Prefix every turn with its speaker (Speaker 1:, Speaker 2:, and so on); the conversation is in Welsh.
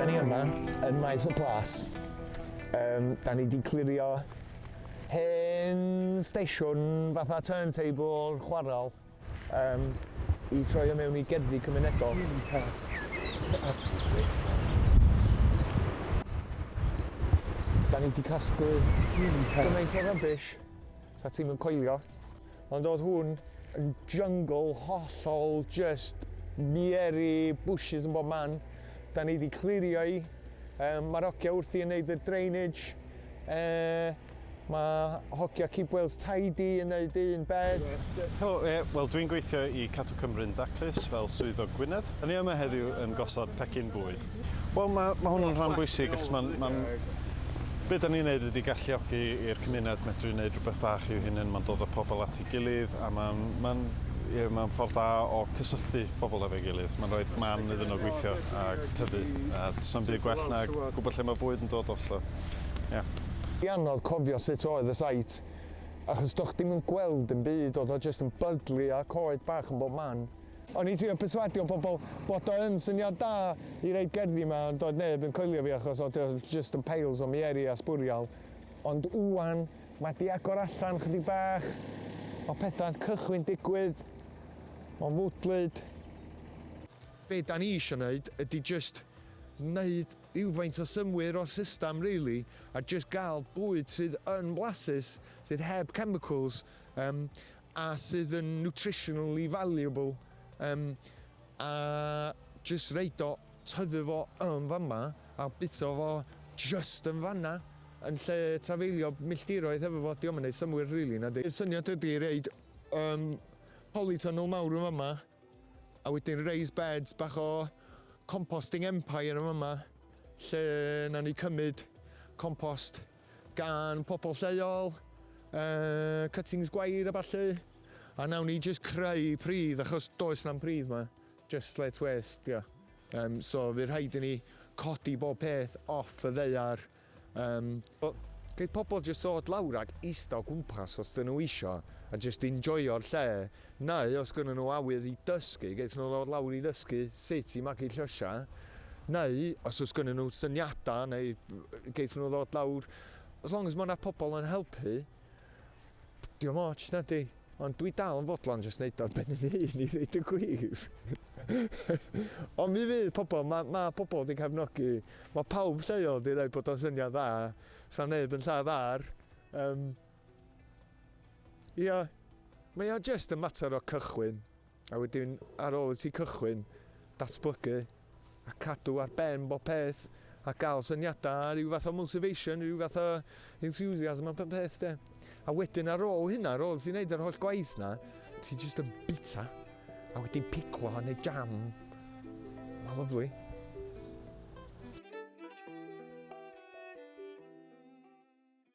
Speaker 1: Da ni yma yn Maes y Plas. Um, da ni wedi clirio hen stesiwn fatha turntable chwarael um, i troi o mewn i gerddi cymunedol. Da ni wedi casglu gymaint o rybys sa ti'n mynd coelio. Ond oedd hwn yn jungle hollol just miery bushes yn bob man. Da ni wedi clirio i. Um, Mae'r hogia wrthi yn neud y drainage. Uh, mae hogia Keep Wales Tidy yn neud un bed. Helo, e, wel
Speaker 2: dwi'n gweithio i Cadw Cymru'n Daclus fel swyddog Gwynedd. Da ni yma heddiw yn gosod pecyn bwyd. Wel ma' ma' hwnnw'n rhan bwysig achos ma'n ma'n be' 'dan ni'n neud ydi galluogi i'r cymuned medru neud rwbeth bach i'w hunen ma'n dod â pobol at 'i gilydd a ma'n ma'n ie ma'n ffor da o cysylltu pobol efo'i gilydd ma'n roid man iddyn nhw gweithio a tyfu a do's na'm byd gwell na gwbo lle ma' bwyd yn dod o so ie.
Speaker 1: Di anodd cofio sut oedd y site achos do'ch di'm yn gweld dim byd o'dd o jyst yn byglu a coed bach yn bob man. O'n i'n trio perswadio pobl bod o yn syniad da i roid gerddi yma ond doedd neb yn coelio fi achos oedd o jyst yn piles o mieri a sbwriel. Ond ŵan mae 'di agor allan chydig bach, mae pethau'n cychwyn digwydd, mae'n fwdlyd. Be da ni isio neud ydi jyst neud rywfaint o synnwyr o'r system rili a jyst gael bwyd sydd yn flasus, sydd heb chemicals, yym a sydd yn nutritionally valuable um, a just reid o, tyfu fo yn fama a bita fo just yn fanna yn lle trafeilio milltiroedd hefo fo, diolch yn gwneud symwyr rili really, na di. Yr syniad ydy reid um, polytunnel mawr yn fama a wedyn raised beds bach o composting empire yn fama lle na ni cymryd compost gan pobl lleol, uh, cuttings gwair a ballu, a nawn ni just creu pridd, achos does na'n pridd ma, just let waste, dio. Um, so fydd rhaid i ni codi bob peth off y ddeiar. Um, Gei pobl jyst ddod lawr ac eista o gwmpas os dyn nhw eisiau a jyst enjoyo'r lle Neu os gynnyn nhw awydd i dysgu, geith nhw ddod lawr i ddysgu sut i magu llysiau, neu os oes gynnyn nhw syniadau, neu geith nhw ddod lawr, as long as mae yna pobl yn helpu, dim ots, na di? Ond dwi dal yn fodlon jyst neud o'r ben yn un i ddeud y gwir. Ond mi fydd pobl, mae ma pobl wedi cefnogi, mae pawb lleol wedi dweud bod o'n syniad dda, sa'n neb yn lladd ar, um, Ia, mae o jest yn mater o cychwyn, a wedyn ar ôl i ti cychwyn, datblygu, a cadw ar ben bob peth, a gael syniadau, a rhyw fath o motivation, rhyw fath o enthusiasm a bob peth de. A wedyn ar ôl hynna, ar ôl ti'n neud yr holl gwaith na, ti just yn bita, a wedyn piclo a neud jam. Mae'n lyflu.